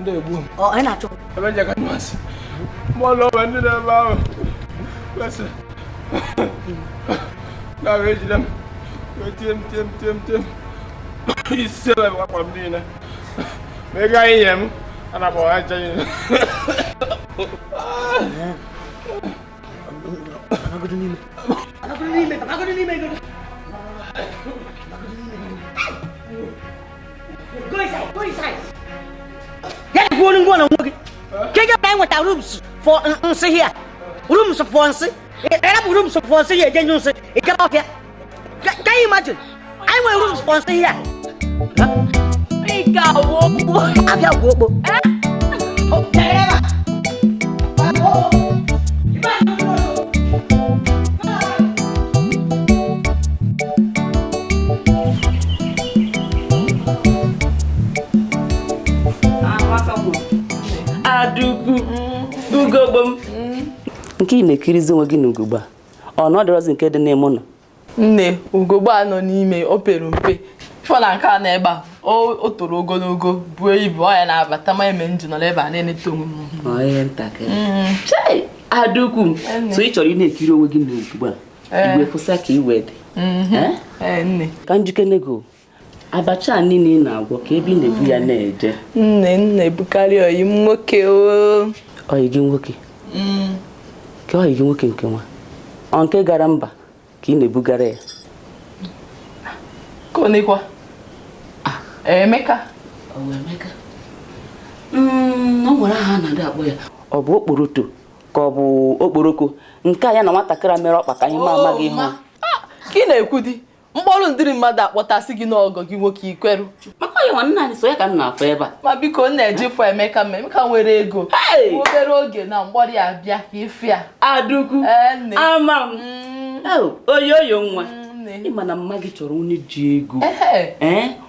ndị egbu ọ anyị na-achọ ebe nje ka nmasị mụọ na o nwe ndị n'ebe ahụ kwesị na wee ejide m wee tie m tie m tie m tie m isi ebe akwa m niile ma ị gaghị ihe m ana m ọha ncha niile Anagodo n'ime. Anagodo n'ime. Anagodo n'ime. ya dịkwa olu ngwa na onwe gị ka ị gaba nweta rooms for nsị hia rooms for nsị ị rapụ rooms for nsị hia eje nyụọ nsị ị gaba ọfịa can you imagine anyị nwere rooms for nsị hia abịa gwuo okpo Adukwu ugogbo m nke ị na-ekirizi onwe gị na ugogbo a ọ na ọ dịrọzi nke dị n'ime ụnọ nne ugogbo a nọ n'ime o pere mpe fọ na nke a na ebe a o toro ogologo buo ibu ọ ya na-abata m ya mee m ji nọrọ ebe a na-eneta onwe m ihe ntakịrị mm. Adukwu so ị chọrọ ị na-ekiri onwe gị na ugogbo a eh. igwe kwụsa ka iwe dị mhm. eh? Eh, ka m jụkene gị abacha a niile ị na-agwọ ka ebe ị na-ebu ya na-eje nne m na-ebugara ọyị m nwoke ọyị gị nwoke mm. kee ọyị gị nwoke nke nwa ọ nke gara mba ka ị na-ebugara ya ọkwa ah. Emeka mm, o nwere aha a na-adị akpọ ya ọ bụ okporoto ka ọ bụ okporoko nke a ya na nwatakịrị mere ọkpa ka anyị ma amaghị ihe ka ị na-ekwudị mkpọrụ ndịrị mmadụ akpọtasị gị n'ọgọ gị nwoke i kweru maka ya nwanne anyị sọ ya ka m na-afụ ebe a ma biko m na-eje fụ Emeka ma Emeka nwere ego obere oge na mgbọrị ya bịa ifia Adukwu ama m mm. ọyọyọ nwa mm, ị ma na mma gị chọrọ onye ji ego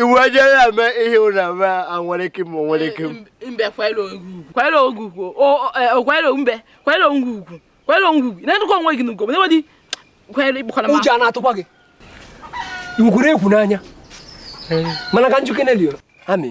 iwu ọjọọ ya eme ihe ụra eme anwere ike ma onwere ike mbe kwere ogwu kwere ogwu kwere e, mbe kwere ogwu kwere ogwu na-edukwa onwe gị n'ugo n'ebe dị kwere ịkpọkọrọ m ụjọ na-atụkwa gị iwu kwuru egwu n'anya mana ka m jụkene lio amị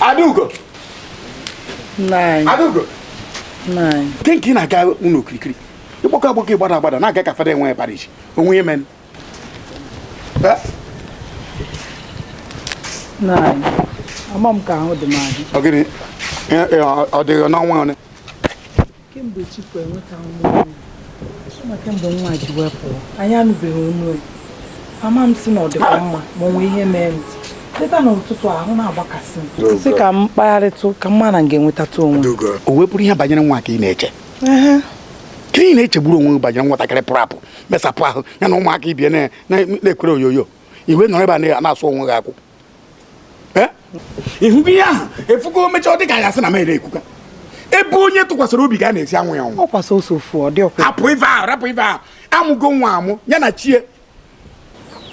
Adaugo Adaugo kee nke ị na-aga ụnọ okirikiri ị gbago agbago ị gbada agbada na-aga ka fada enwe bara iji o nwe ihe mere nụ ama m ka ahụ dị m adị ọ dịghị n'ọnwa ole kemgbe Chikwu enweta nwa m a kemgbe nwa ji wee pụọ anyị anụbeghị onu e. ama m sị na ọ dịkwa mma ma o nwee ihe mee m teta n'ụtụtụ ahụ na-agbakasị m sị ka m kpagharịtụ ka m ma na m ga-enwetatụ onwe o wee bụrụ ihe banyere nwa ka ị na-eche ka ị na-echegburu onwe gị banyere nwatakịrị pụrụ apụ mesapụ ahụ ya na ụmụaka ibe e na-ekwere oyoyo i wee nọrọ ebe a na-asụ onwe gị akwụ eh? ị hụgo ihe ahụ efugo mechaa dị ka ya sị na mere ekwuka ebe onye tụkwasịrị obi ga na-esi anwụ ya anwụ hapụ ife ahụ rapụ ife ahụ a mụgo nwa amụ ya na chi e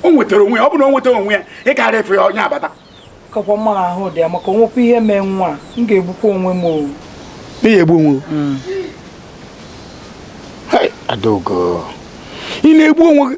o nwetara onwe ya ọ bụ na o nwetara onwe ya ị karịa efe ya onye abata kakwa mma ahụ dị ya maka o nwekwa ihe mee nwa m ga-egbukwa onwe m ọ wụ ị egbu onwe hmm. Adaugo ị na-egbu onwe gị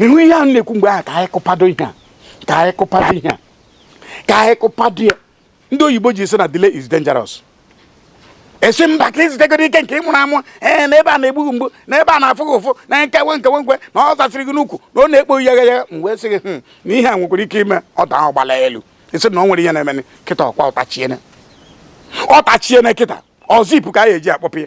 ị hụ ihe a na-ekwu mgbe ahụ ka anyị kụpado ihe a ka anyị kụpado ihe a ka anyị kụpado ya ndị oyibo ji sị na delay is dangerous ị sị mba ka i zutugoro ike nke ị mụrụ amụ ee na ebe a na-egbu gị mgbu na ebe a na-afụ gị ụfụ na nkewe nkewe nkwe na ọ zasịrị gị n'ukwu na ọ na-ekpo ya ya m wee sị gị hmm, na ihe a nwekwara ike ime ọ daa ahụ gbala elu ị sị na o nwere ihe na-eme kịta ọkwa ọ tachiene ọ tachiene kịta ọzọ ipu ka a ga-eji akpọpụ ya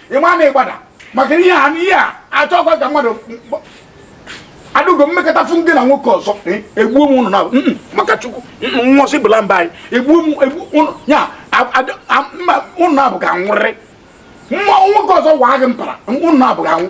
ị ma na ị gbada maka ihe a ihe a achọkwa ka mmadụ Adaugo m meketa fụ gị na nwoke ọzọ e, egbuo m ụnụ naabọ maka Chukwu nwụsị bụla mba anyị egbuo m egbu ụnụ ya ụnụ naabọ ga-anwụrịrị nwa nwoke ọzọ waa gị mpara ụnụ naabọ ga-anwụ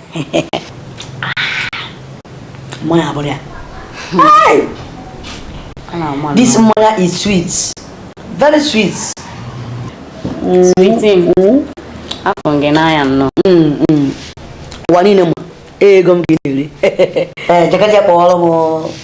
mmanya abụrụ ya this mmanya is sweet very sweet sweet a fụ m gị n'anya nnọọ ụwa niile ma ego m ga na-eri ee jee ka je kpọọrọ m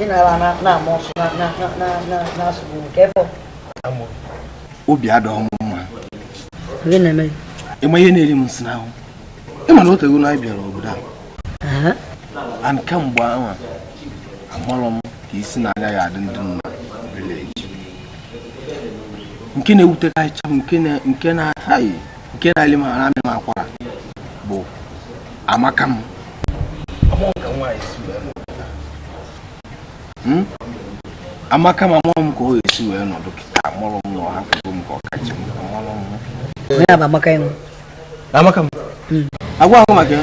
ị na-ala na-ama ọsụ na-asụgbu nke ebe obi adịghị m mma ị ma ihe na-eri m nsị n'ahụ ị ma na o tego na anyị bịara obodo a and kamgbe ahụ amarọ m ka isi na anya ya adị ndị nọ na village nke na-ewutekarịcha m nke na-ataghị nke na-eli m ara amị m akwara bụ Amaka m Hmm? Amaka m amarọ m ka ọ ga-esi wee nọdụ kịta amarọ m na ọ hafụgo m ka ọ ka chọ m amarọ m Onye a bụ Amaka ịnwụ. Amaka m agwa gị maka ya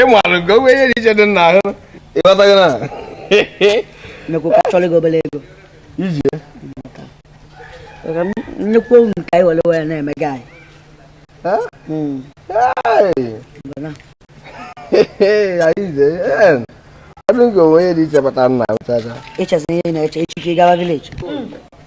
ị maara nke onwe ihe dị iche dị n'ahụ ịghọtaghị na iji nnukwu nke anyị were wee na-eme gị anyị hmm. ọdụ nke onwe ihe dị iche bata nna ụtacha ịchezi ihe na-eche echiche gawa vileji hmm.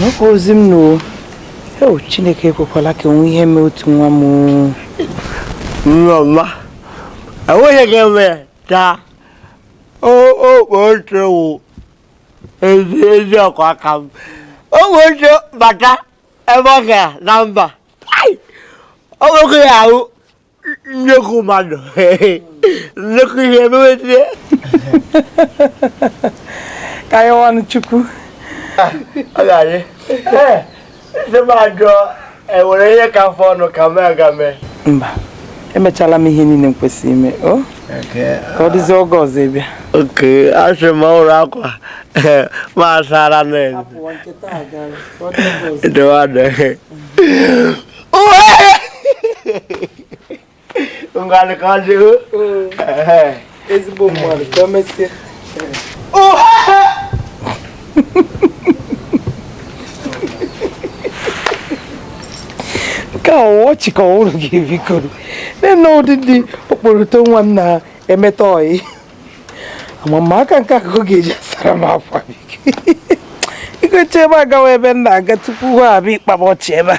nwoke ozi m n'o o chineke ekwekwala ka o nwee ihe mee otu nwa m nneọma enweghị ihe ga-eme ka okpo oche wụ ezi eziokwu aka m ụmụ oche bata ebe ọ gara na mba o nweghị ya ahụ nnekwu mmadụ nnekwu ihe emewezie ka anyị ọnụ chukwu ọ ga-adị ndị m ajụọ enwere ihe ka fọrọnụ ka m ga mee mba emechala m ihe niile m kwesịrị ime o ka ọ dịzie oge ọzọ ị bịa oke asị m ọ hụrụ akwa m sara na-edowadị Ungali kaldı. Ezi bu malı. Dönmesi. nke a ọchị ka ọhụrụ ga-ebikoro nne ndidi okporoto nwa m na-emeta ọyị amama aka nke akụkọ ga-eji asara m akwa biko igoche ebe agawa ebe m na-aga tupu ha abịa ịkpaba ọchị ebe a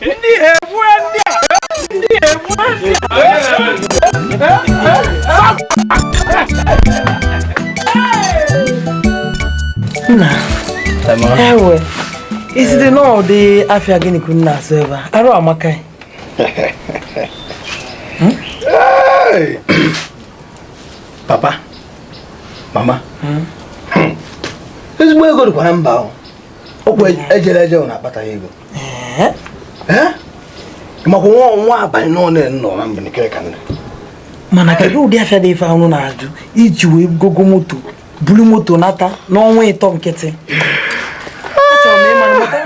ndị egbue ndị a ndị egbue ndị a nna ewe isite n'ụdị afịa gịnị ka ụnụ na-azụ ebe ahụ amaka papa mama hmm? ezigbo ego dịkwa na mba ahụ okwu ejere eje na akpataghị ego makwa nwa ọnwa abalị nọ na-enọ na mbenikere ka nne mana kedu ụdị afịa dị ife ahụ na-azụ i ji wee gogo moto buru moto nata n'ọnwa ịtọ nkịtị achọrọ m ịmara maka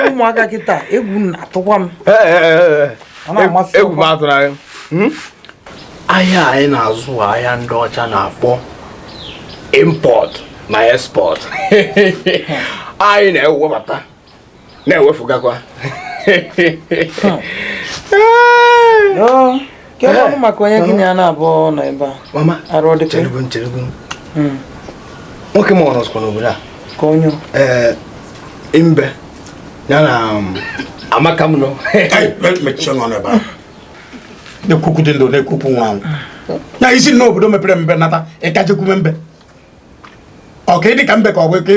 ụmụaka kịta egwu na-atụkwa m egwu m atụrụ anyị hmm? ahịa anyị na-azụ ahịa ndị ọcha na-akpọ import na export anyị na-ewebata na-ewefugakwa kedu maka onye gị na ya na-abụ nọ ebe a arụ ọ dịka hmm. nwoke ma ọ nọzikwa n'obodo a ka onye ee imbe ya na um, amaka m nọ mechie nọ n'ebe a na-ekwu okwu dị ndụ na-ekwu okwu nwa anwụ na i si n'obodo mepere emepe nata ị ka jekwume mbe ọ ka ị dị ka mbe ka ọ bụ ka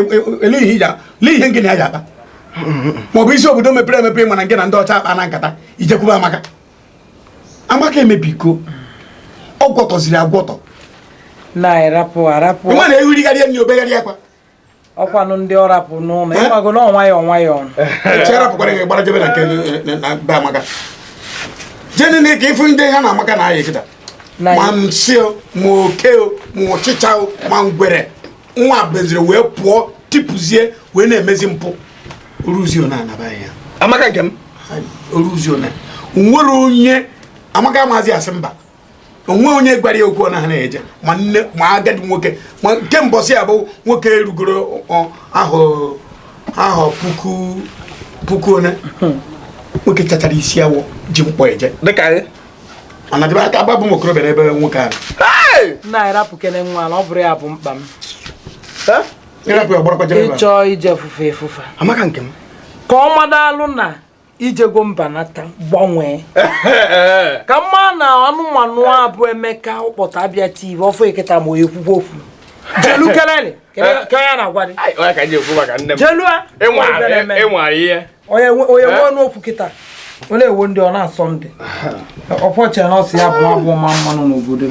ele ihe iji lee ihe ngị na ya ji akpa ma ọ bụ i si obodo mepere emepe mana ngị na ndị ọcha akpana nkata i jekwube amaka amaka emebigo ọ gwọtọziri agwọtọ na-arapụ arapụ nwa na-ehurigharị ya na obegharị akwa ọ kwanụ ndị ọ rapụ n'ụlọ eh? ịgbago na ọnwa ya ọnwa ya ọnụ cherapụkwara gị gbara jebe na nke be amaka jeni na ka ị fụ ndị ha na amaka na-ayị kịta ma nsị o ma oke o ma ọchịcha o ma ngwere nwa beziri wee pụọ tipụzie wee na-emezi mpụ o ruzio na anaba ya amaka nke m o ruzio na nwere onye amaka amazi asị mba o nwe onye gwara ya okwu ọ naghị eje ma nne ma agadi nwoke ma nke mbọsị ya bụ nwoke erugoro ahụ puku puku one nwoke chachara isi awọ ji mkpọ eje ọ na-adịba ka agbabụ m okorobịa n'ebe nwoke ahụ nna anyị rapụkene nwa na ọ bụrụ ya bụ mkpa m ị chọ ije fufe efufe amaka nke m ka ọ madalụ na ijego mbanata gbanwee ka mma na anụmanụ a bụ emeka ụkpọta abịa tiv ọfọ eketa ma onye kwukwu okwu jelu kelele ka ya na-agwa dị jelu a onye nwe ọnụ okwu kịta onye ewo ndị ọ na-asọ ndị ọpọchị na ọsị ya bụ abụ ma mmanụ n'obodo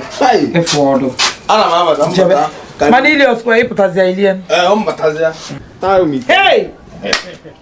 efu ọdụ mana ili ọsụkwa ịpụtazịa ilie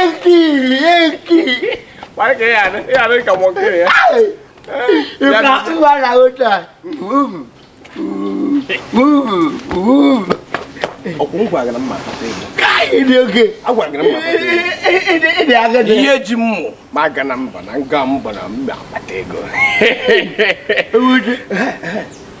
ekiri ekiri ịgbara otu a ịdị oke ịdị agadi ihe ji mmụ ma aga na mba na nga mba na mba akpata ego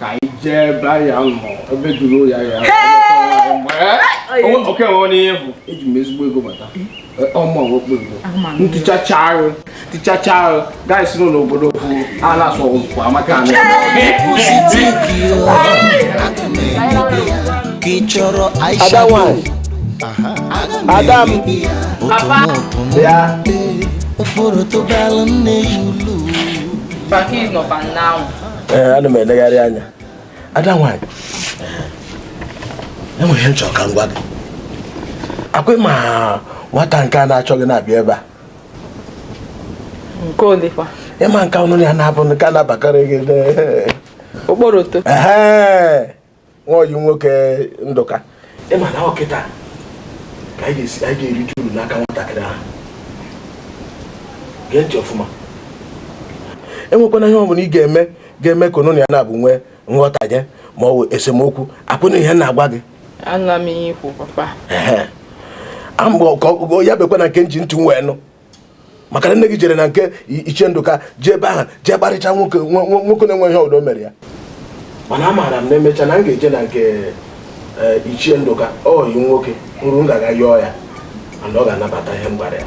ka anyị jee ebe ya nọ ebe jụrụ ya ya oke nwe onye ihe bụ eji m ezigbo ego bata ọmụ ọgwụkpụ ego ntụchacha arụ ntụchacha arụ gaa si n'ụlọ obodo bụ a na-asụ ọgwụkwụ amaka anụ ada nwanyị ada m ya ụfọdụ tụbara nne ya ụlọ ee ana m elegharị anya ada nwaanyị enwere ihe m chọrọ ka m gwa gị ọ kwa ịma nwata nke a na-achọ gị na-abịa ebe a nke olekwa ịma nke ọnụ ya na-abụ nke a na-abakarị gị okporoto nwa ọyị nwoke ndụka ịma na ọ kịta ka anyị ga-erite uru n'aka nwatakịrị ahụ gee ntị ọfụma enwekwana ihe ọbụla ị ga-eme ga-eme ka unu na ya na abụọ nwee nghọtahie ma ọ bụ esemokwu ọ kwa ị nụ ihe m na-agwa gị ya abụkwana nke m ji ntị m wee nụ maka na nne gị jere na nke ichie ndụka jee ebe ahụ jee kparịcha nwoke na-enwe ihe ọdọ mere ya mana amaara m na emecha na m ga-eje na nke e, ichie ndụka ọyi nwoke nrụ m ga-aga yọọ ya mana ọ ga-anabata ihe m gwara ya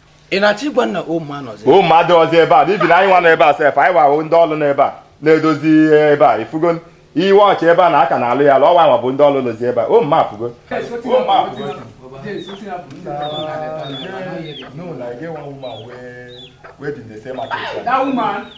ị na-achọ ịgwa m na ụmụ anọzi ụmụ mmadụ ọzọ ebe a n'ibi na anyị nwa nọ ebe a sef anyị wahụ ndị ọrụ nọ ebe a na-edozi ihe ebe a ị fugo iwe ọchị ebe a na a ka na-alụ ya alụ ọ wa nwa bụ ndị ọrụ nọzi ebe a o mma apụgo No, like get one woman wey wey dey sell market? That woman.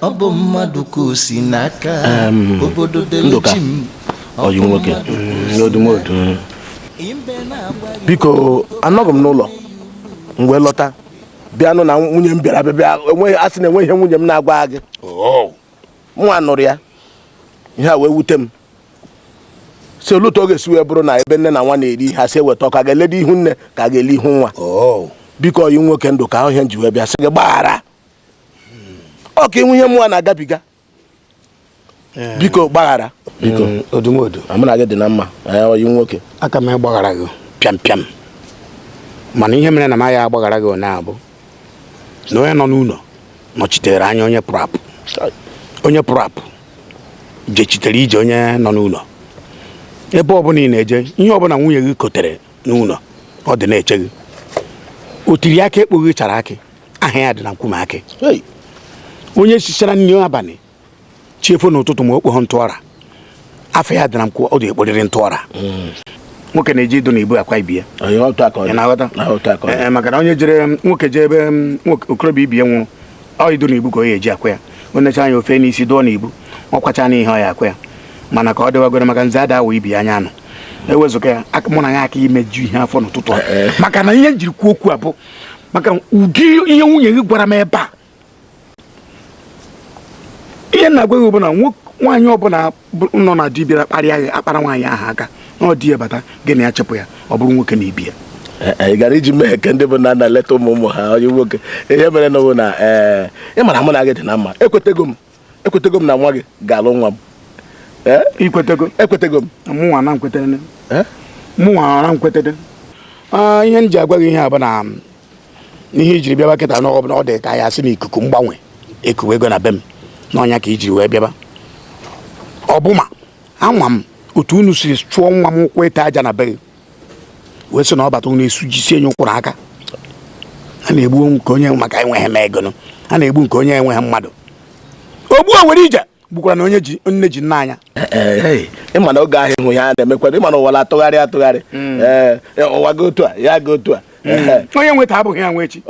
ọ bụ mmadụ ka o si n'aka obodo delechi m ọyị nwoke n'odumodu biko anọghị m n'ụlọ m wee lọta bịa nụ na nwunye m bịara be gị a sị na enweghị ihe nwunye m na-agwa gị oh. mụwa nụrụ ya ihe a wee wute m sị olee otu ọ ga-esi wee bụrụ na ebe nne na nwa na-eri ihe a sị weta ọkụ ka e lee ihu nne ka e lee ihu nwa oh. biko ọyị nwoke ndụka ọ wụ ihe m ji wee bịa sị gị gbaghara ọ kwa ị hụ ihe mụwa na-agabiga biko gbaghara biko mm, odumodu mụ na gị dị na mma ọyị m nwoke aka m agbaghara gị pịam pịam mana ihe mere na m aya agbaghara gị ụnyaahụ bụ na onye nọ n'ụlọ nọchitere anya onye pụrụ apụ onye pụrụ apụ jechitere ije onye nọ n'ụlọ ebe ọbụla ị na-eje ihe ọbụla nwunye gị kotere n'ụlọ ọ dị na-eche gị o tiri akị ekpoghị ichere akị aha ya dị na nkwume akị onye sichara nri abalị chi efo n'ụtụtụ ma o kpoghị ntụọra afa ya dị na nkwụ ọ dị ekporiri ntụọra hmm. nwoke na-eji idu n'ubu akwa ibe ya eh, maka na onye jere nwoke jee ebe mm, okorobịa ibe ya nwụrụ ọ idu n'ubu ka o ya eji akwa ya o necha anya o fee n'isi dụọ n'ubu ọ kwacha na ihe ọ ya akwa ya mana ka ọ dịwagoro maka nze ada awụ ibi anya anụ ewezụga ya mụ na ya aka imeju ihe afọ n'ụtụtụ eh, eh. maka na ihe m jiri kwuo okwu a bụ maka ụdị ihe nwunye gị gwara m ebe a ihe m na-agwa gị bụ na nwaanyị ọbụla nọ na di bịara kparịa gị akpara nwaanyị ahụ aka na di ya bata gị na ya chepụ ya ọ bụrụ nwoke na ibe ya eh, eh, ị gara iji mee ka ndị bụ nna na-eleta ụmụ ụmụ ha onye nwoke ihe mere nụ bụ na ee eh, ị mara mụ na gị dị na mma ekwetego m ekwetego m na nwa gị ga-alụ nwa m ikwetego ekwetego m mụnwa na m kwetere mụnwa na m kwetere ah, ihe m ji agwa gị ihe a bụ na ihe i jiri bịaba kịta na ọ bụ na ọ dị ka ya sị na ikuku mgbanwe ekuwego na be m na ọ nya ka i jiri wee bịaba ọ bụ ma ama m otu unu si chụọ nwa m ụkwụ ịta aja na be gị wee sị na ọ bata ụlọ esu jisie nye ụkwụrụ aka a na-egbu nke onye maka enweghị m ego a na-egbu nke onye enweghị mmadụ o gbuo were ije gbukwara na onye ji nne ji nna anya ị ma na oge ahụ ị hụ ya na-emekwado ị ma na ụwa atụgharị atụgharị hmm. eh, eh, ụwa gaa otu a ya gaa otu a hmm. eh. onye nwe taa abụghị ya nwe echi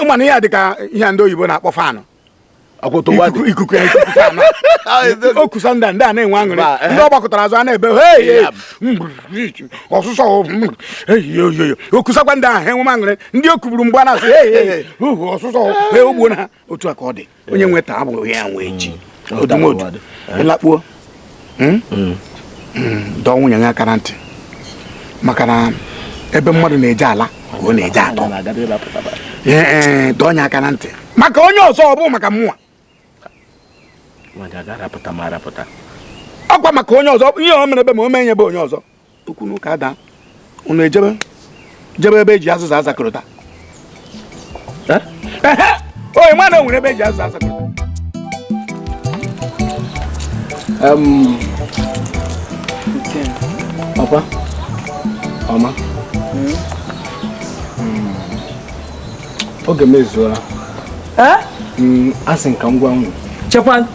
ị ma na ihe a dị ka ihe ndị oyibo na-akpọ fan ikuku o kusa ndị ndị a na-enwe aṅụrị eh. ndị ọ gbakọtara azụ a na-ebe ọsụsọ o kusakwa ndị ahụ enwe aṅụrị ndị o kuburu mgbe a na-asụ ọsụsọ ogbonna otu a ka ọ dị onye nwe taa abụghị ya nwe echi odumodu lakpuo hmm? Hmm. Hmm, dọọ nwunye ya aka na ntị maka na ebe mmadụ na-eje ala ka ọ na-eje atọ dọọ ya aka na ntị maka onye ọzọ ọ bụ maka mụwa ọ kwa maka onye ọzọ ihe o mere be m o mee ya be onye ọzọ okwu na ụka adaa unu ejebe jebe ebe e ji azịza azakọrọta onye ma na o nwere ebe e ji azịza azakọrọta ọkwa ọma hmm? Hmm. oge m ezuola eh? hmm, asị m ka ngwa nụ chekwa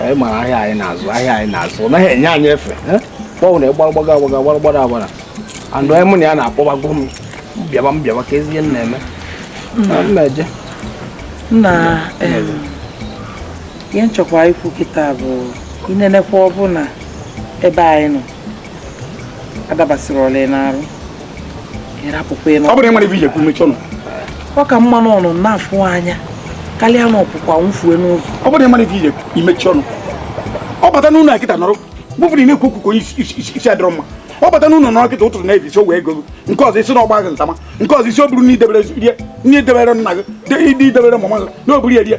anyị mara ahịa anyị na-azụ ahịa anyị na-azụ ọ naghị enye anyị efe kpọwụ na ị gbara gbaga agbaga gbara gbara agbara andụ anyị mụ na ya na-akpọbago m m bịaba m bịaba kezi ihe m na-eme mmeje na ihe m chọkwa ikwu kịta bụ i nenekwa ọ bụ na ebe anyị nọ adabasịrị ọla n'arụ ị rapụkwa ịnụ ọ bụrụ ị marọ ife i je-ekwu mechie ọnụ ọ ka mma na ọ nọ na-afụ anya karịa na ọ pụọ anwụfue n'ụzọ ọ bụrụ ị marọ ife i je-ekwu i mechie ọnụ ọ bata n'ụlọ kịta nọrọ bụbụrụ ị na-ekwu okwu ka onye isi adịrọ mma ọ bata n'ụlọ nọrọ kịta ụtụtụ na-ebi isi wee ego nke ọzọ ị sị na ọ gba gị ntama nke ọzọ ị sị ọ bụrụ na i debere nri na i debere nna gị i debere mama gị na o buru ya rie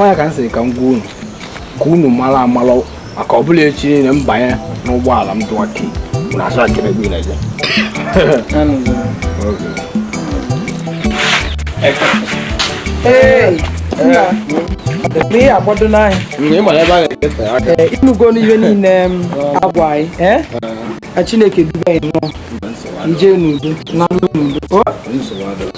ọ ya ka m sịrị ka m gwa unu ka unu mara amara maka ọ bụrụ echi niile m banye n'ụgbọala m dụwa kii unu asụ akịrị ebe na-eje ihe agbado n'ahịa ịnụgo n'ihe niile agwa anyị Chineke duba anyị nọ ije n'udo naa n'udo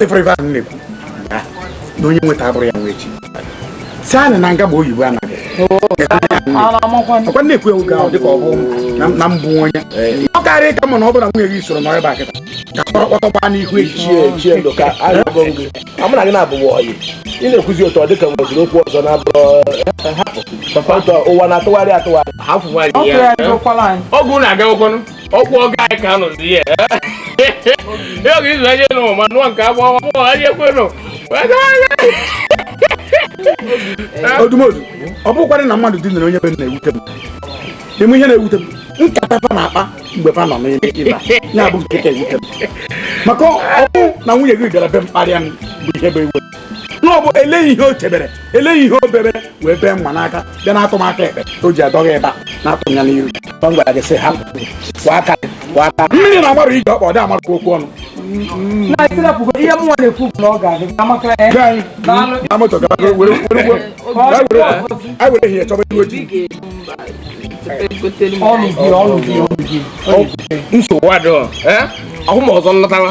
ị fụrụ ife ahụ na-ekwu na onye nweta abụrụ ya nwa echi si anyị na nga bụ oyibo anaghị ọkwa na-ekwu ewu ga ahụ dịka ọ bụ na mbụ onye ọ karịa ka mma na ọ bụla nwunye gị soro nọrọ ebe a kịta ka kpọrọ kpọtọ gbaa n'ihu echi echi ndụ ka agụgụ gị amụ na gị na-abụghị ọyị ị na-ekwuzi otu ọ dịka nweziri okwu ọzọ na-abụrụ hapụ ụwa na-atụgharị atụgharị ọgụ na-agawakwanụ okwu ọga anyị ka anụzi ihe ya oge izu anyị nụ ma nụọ nke agba ọma mụọ anyị ekwenụ odumodu ọ bụkwarọ na mmadụ dinere onye be na-ewute m ị ma ihe na-ewute m nkata fa na-akpa mgbe fa nọ n'ime iba ya bụ nke ka ewute m maka ọ bụ na nwunye gị gara be m kparịa m bụ ihe bụ iwe na ọ bụ eleghị ihe o chebere eleghị ihe o bebere wee bee mma n'aka bịa na-atụ m aka ekpe o ji adọghị ebe a na-atụ ya n'iru ọ gwara gị sị ha kwọ aka kwọ aka mmiri na amarụ ije ọkpa ọ dị amarụ ka okwu ọnụ ihe mụnwa na-ekwu bụ na ọ ga-adị ka amaka na moto gara aga were were ihe chọba ihu ojii nsogbu adịghị ọhụ ma ọzọ nlọtawa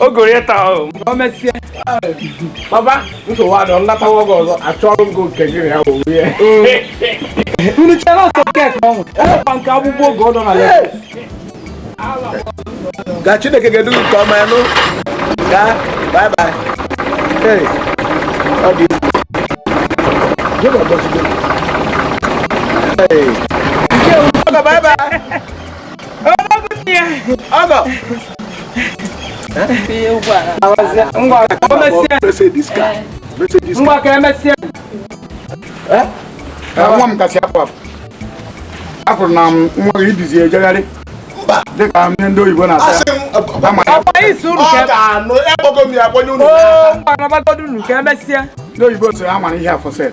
o goro ya taa o mgbe o mesie papa nsogbu adịrọ m latawa oge ọzọ achọrọ m gị nke gị na ya wụ ihe unu chere ọsọ kek ọnwụ ọkwa nke agbụgbọ oge ọ nọ na ya ka Chineke ga-edu gị nke ọma ngwa bye bye hey ọ dị egwu. Hey. Nke ugbu a, bye bye ngwa ka e mesịa nwa m ka a sị apụ apụ apụrụ na nwa gị ibizi ejegharị dịka ndị ndị oyibo na-asị ndị oyibo sịrị amara ihe afọ set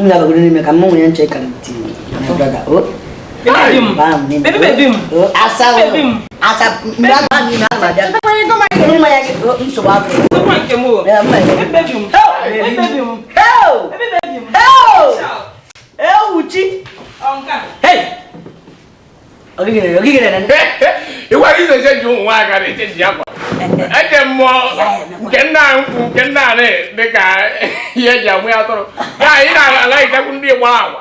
m ga-abagoro n'ime ka mụ nwunye nche kara ti asa ewuchi ịgwa gị na-eche ji ụmụ nwaanyị ka na-eche ji akwa eche mmụọ nke nna nkwụ nke nna anị dị ka ihe eji amụ ya atụrụ ka anyị na-alaghịchakwu ndị gba agwa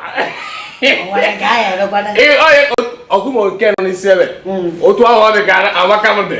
ọkụma nke nọ n'isi ebe otu ahụ ọ dị ka amaka m dị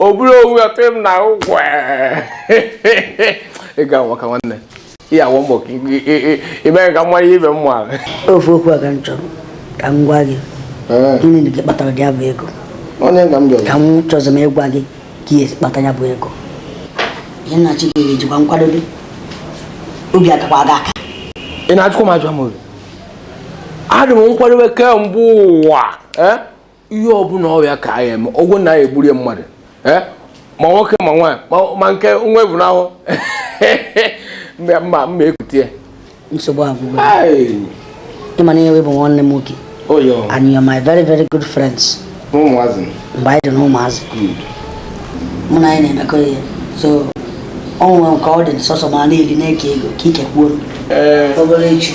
ọ bụrụ owu ọtụ m na ụgwọ ị ga nwa ka nwanne ihe awọ mbọ ime ka mmanya ibe m nwara ofu okwu a ka m chọrọ ka m gwa gị gịnị na gị kpatara dị ya bụ ego ka m chọrọ m ịgwa gị ka ihe kpata ya bụ ego ihe nnachi gị ga-ejikwa nkwadobe obi akakwa gị aka ị na-ajụkwa m ajụ m obi adị m nkwadobe kemgbe ụwa ihe ọbụla ọrịa ka anyị eme ọgwụ na anyị egburie mmadụ eh? ma nwoke ma nwaanyị ma nke nwa ebu n'ahụ mma mma ekutie nsogbu agwụgo ị ma na ị bụ nwanne m nwoke and you are my very very good friends mgbe anyị dị na ụmụazị mụ na gị na-emekọ ihe so ọ nwere nke ọ dị sọsọ mụ na-eli na-eke ego ka ike kwuo eh. obere echi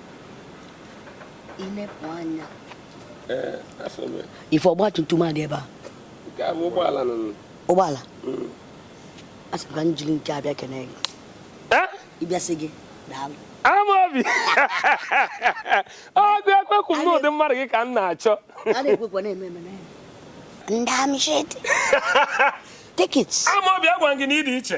ife ọgba tum tum adị ebe a ụgbọala mm. a sị ka m jiri nke a bịa kene gị eh? ị bịa sị gị daalụ amaobi ọgụ ekwekwu m n'ụdị mmadụ gị ka m na-achọ ndị amịshịtị tikit amaobi agwa gị na ị dị iche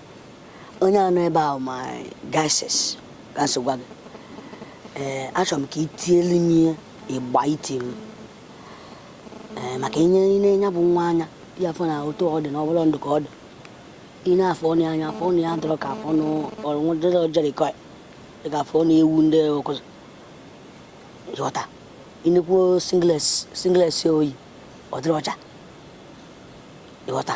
onye anọ ebe ahụ ma gases ka so gwa gị ee achọrọ m ka ị tielu m ihe igba tie m ee maka ị nee ya bụ nwa anya ị afụ na otu ọ dị na ọbụla ndụ ka ọ dị ị nee afọ ọnụ anya afọ ọnụ ya dọrọ ka afọ ọnụ ọrụ dọrọ jerikọ ka afọ ọnụ ewu ndị ọkụzụ ị ghọta ị nekwuo singlet singlet o yi ọ dịrọ ọcha ị ghọta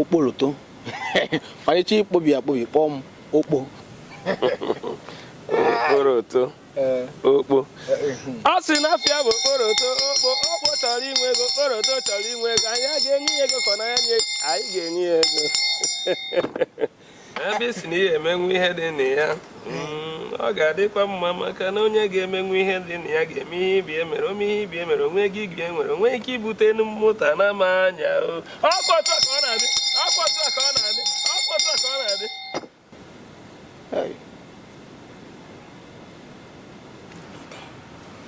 okporoto ọchịchị ikpobi akpobi kpọọ m okpo okporoto okpo ọ sị na afa ya bụ okporoto okpo okpo chọrọ inwe ego okporoto chọrọ inwe ego anyị a ga-enye ya ego ka ọ naa ya nye anyị ga-enye ya ego ebe ị sị na ị ya-emenwu ihe dị na ya mm, ọ ga-adịkwa mma maka na onye ga-emenwu ihe dị na ya ga-eme ihe ibe ya mere o mee ihe ibe ya mere o nwee ihe ibe ya nwere o nwee ike ibute enu mmụta na ama anya ọkpọtụ ka ọ na-adị ọkpọtụ ka ọ na-adị ọkpọtụ ka ọ na-adị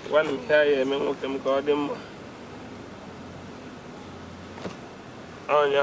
ngwanụ ihe ị ya-eme nwoke m ka ọ dị mma ọnya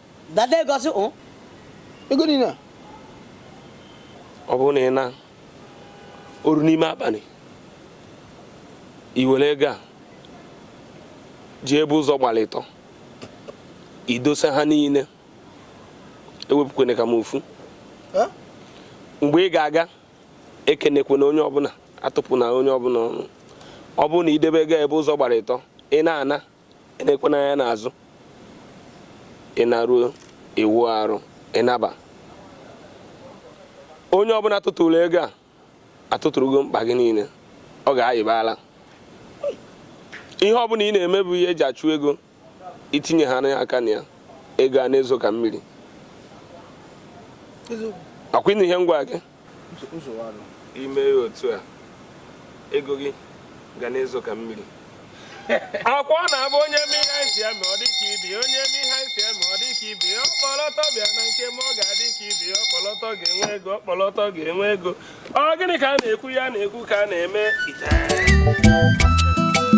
Dada ego sị o. Ego niile a. Ọ bụrụ na ị na o ruo n'ime abalị i were ego a jee ebe ụzọ gbalụ ịtọ i dosa ha niile ewepụkwana ka m ofu mgbe ị ga-aga ekenekwana onye ọbụla atụpụna onye ọbụla ọnụ ọ bụrụ na i debe ego ebe ụzọ gbalụ ịtọ ị na-ana enekwana anya n'azụ ị naruo ị wụọ arụ ị naba onye ọbụla tụtụrụ ego a atụtụrụgo mkpa gị niile ọ ga-ayịbala ihe ọbụla ị na-eme bụ ihe e ji achụ ego i tinye ha n'aka na ya ego a na-ezo ka mmiri akwa ị nụ ihe m gwa gị i mee ya otu a ego gị ga na-ezo ka mmiri akwa ọ na-abụ onye mee ihe anyị si eme ọ dị ka ibe onye mee ihe anyị si eme ọ dị ka ibe ọkpọlọtọ bịa na nke m ọ ga-adị ka ibe ọkpọlọtọ ga-enwe ego ọkpọlọtọ ga-enwe ego ọ gịnị ka a na-ekwu a na-ekwu ka a na-eme ite